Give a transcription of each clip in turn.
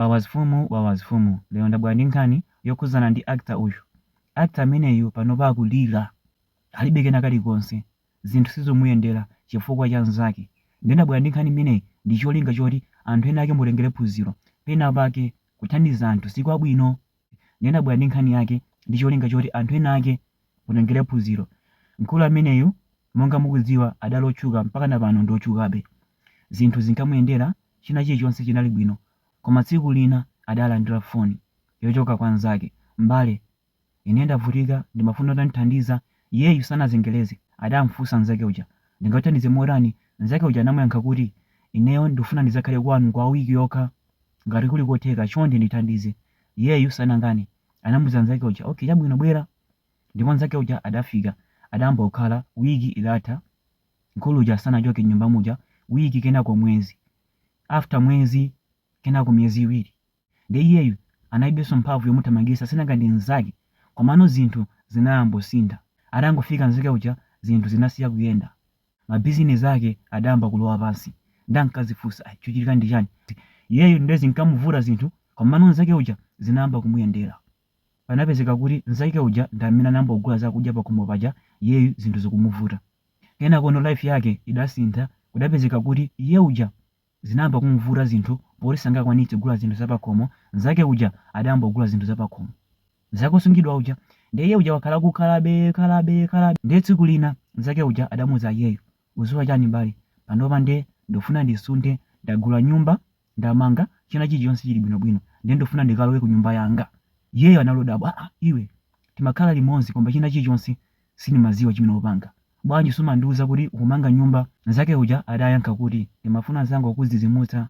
Wawazfumu wawazfumu lero ndabwera ndi nkhani yokhuzana ndi actor uyu actor ameneyu panopa akulira alibe kena kalikonse zinthu sizomuyendera chifukwa cha nzake nde ndabwera ndi nkhani imeneyi ndicholinga choti anthu ena ake mutengere phunziro penapake kuthandiza anthu sikwabwino ndiye ndabwera ndi nkhani yake ndi cholinga choti anthu ena ake mutengere phunziro. Mkulu ameneyu monga mukudziwa adali otchuka mpakana pano ndi otchukabe. Zinthu zinkamuyendera china chilichonse chinali bwino koma tsiku lina adalandira foni yochoka kwa nzake, m'bale ine ndavutika ndimafuna utandithandiza iyeyu sanazengereze adamfunsa nzake uja ndingathandize motani? Nzake uja anamuyankha kuti ineyo ndifuna ndizakhale kwanu kwa wiki yokha. Ngati kuli kotheka, chonde ndithandize. Iyeyu sanakane. Anamuza nzake uja. Okay, chabwino bwera. Ndipo nzake uja adafika. Adayamba kukhala. Wiki idatha. Mkulu uja sanachoke m'nyumba muja. Wiki kenako mwezi. After mwezi kenako miyezi iwiri. Nde iyeyu analibenso mphamvu yomuthamangitsa sinanga ndi nzake. Komano zinthu zinayambosintha. Adangofika nzake uja zinthu zinasiya kuyenda. ma business ake adayamba kulowa pansi nde ankazifunsa ai chochitika ndi chani iyeyu nde zinkamuvuta zinthu komano nzake uja zinayamba kumuyendera panapezeka kuti nzake uja ndi amene anayamba kugula zakudya pakhomo paja iyeyu zinthu zikumuvuta kenakono life yake idasintha kudapezeka kuti iye uja Zinayamba kum'vuta zinthu poti sangakwanitse kugula zinthu za pakhomo, mnzake uja adayamba kugula zinthu za pakhomo chonsecho kosungidwa uja ndiye iye uja wakhala akukhalabe khalabe khalabe ndiye tsiku lina mnzake uja adamuuza iyeyu, udziwa chani m'bale panopa ndufuna ndisunthe ndagula nyumba ndamanga china chilichonse chili bwino bwino nde ndufuna ndikalowe ku nyumba yanga iyeyu anali odabwa aa iwe timakhala limodzi koma china chilichonse Sindimadziwa chimene upanga. Bwanji sumandiuza kuti ukumanga nyumba? Mnzake uja adayankha kuti, Ndimafuna ndizangokudzidzimutsa.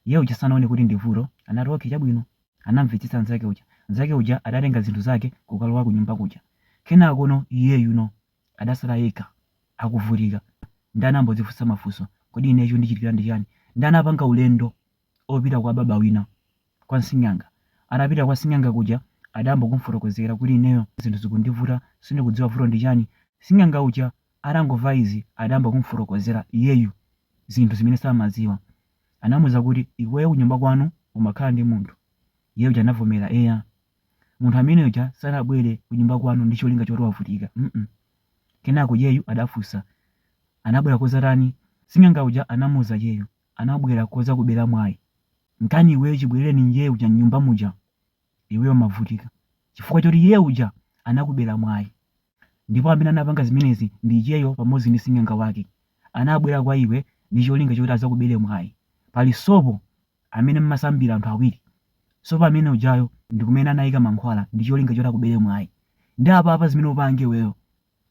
Iye uja sanaone kuti ndi vuto, anati, Okay, chabwino. Anamvetsetsa mnzake uja. Mnzake uja adatenga zinthu zake n'kukalowa kunyumba kuja. Kenakono iyeyuno adatsala yekha, akuvutika. Ndiye anayamba kudzifunsa mafunso, Kodi ineyo chondichitikira ndi chiyani? Ndiye anapanga ulendo opita kwa baba wina, kwa nsing'anga. Atapita kwa sing'anga kuja adayamba kumufotokozera kuti ineyo zinthu zikundivuta sindikudziwa vuto ndi chani. Sing'anga uja atangomva izi adayamba kumufotokozera iyeyu zinthu zimene samadziwa. Anamuuza kuti iweyo kunyumba kwanu umakhala ndi munthu. Iye uja anavomera eya. Munthu amene uja sanabwere kunyumba kwanu ndi cholinga choti wavutika mm. Kenako iyeyu adafunsa anabwera kudzatani? Sing'anga uja anamuuza iyeyu anabwera kozakubela mwai nkani iweyo chibweleleni iye uja mnyumba muja iweyo umavutika chifukwa choti iye uja anakubela mwai ndipo amene anapanga zimenezi ndi iyeyo pamodzi ndi sing'anga wake anabwela kwa iwe ndi cholinga choti azakubele mwai pali sopo amene mmasambila anthu awiri sopo amene ujayo ndikumene anaika mankhwala ndicholinga choti akubele mwai nde apapa zimene upange iweyo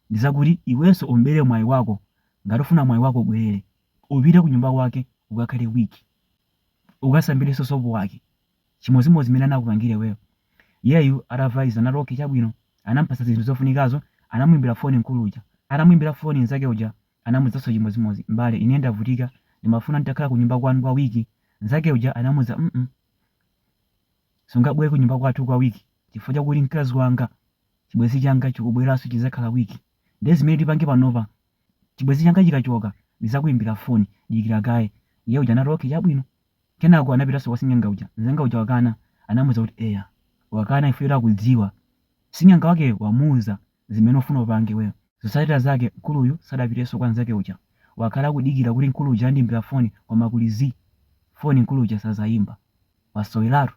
ndi zakuti iwenso umbere mwayi wako ngati ufuna mwayi wako ubwerere upite kunyumba kwake ukakhale week ukasambirenso sopo wake chimodzimodzi mmene anakupangira iweyo iyeyu atava izi anati okay chabwino anampatsa zinthu zofunikazo anamuimbira foni mkulu uja atamuimbira foni nzake uja anamuuzanso chimodzimodzi mbale ine ndavutika ndimafuna nditakhala kunyumba kwanu kwa wiki nzake uja anamuza mm sungabwere kunyumba kwathu kwa wiki chifukwa chakuti mkazi wanga chibwezi changa chikubwelaso chizakhala week ndiye zimene tipange panopa chibwezi changa chikachoka ndizakuimbila foni dikila kaye iye uja anati ok chabwino kenako anapitaso kwa sing'anga uja nzanga uja wakana anamuza kuti eya wakana chifukwa choti akudziwa sing'anga wakeyo wamuuza zimene ufuna upange iweyo zotsatila zake mkuluyu sadapiteso kwa nzake uja wakhala akudikila kuti mkulu uja andiimbila foni koma kuli zii foni mkulu uja sazaimba wasowelatu.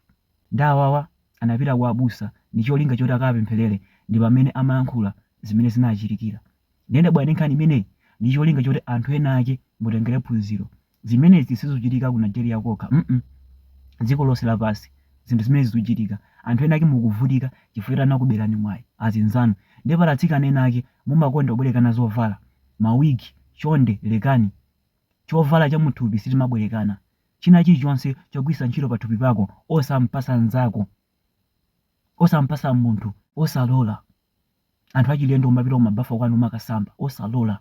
Nde awawa anapita kwa abusa ndicholinga choti akawapemphelere ndipamene amayankhula zimene zinawachitikira nde ndabwera ndi nkhani imeneyi ndicholinga choti anthu ena ake mutengere phunziro zimenezi sizuchitika ku Nigeria kokha mm dziko lonse lapasi zinthu zimenezi zuchitika anthu ena ake mukuvutika chifukwa choti anakuberani mwayi azinzanu nde pali atsikana ena ake mumakonda kubwerekana zovala ma wig chonde lekani chovala chamuthupi sitimabwerekana China chilichonse chogwitsa ntchito pathupi pako osampatsa mnzako, osampatsa munthu. Osalola anthu achilendo kumapita kumabafa kwanu kumakasamba. Osalola.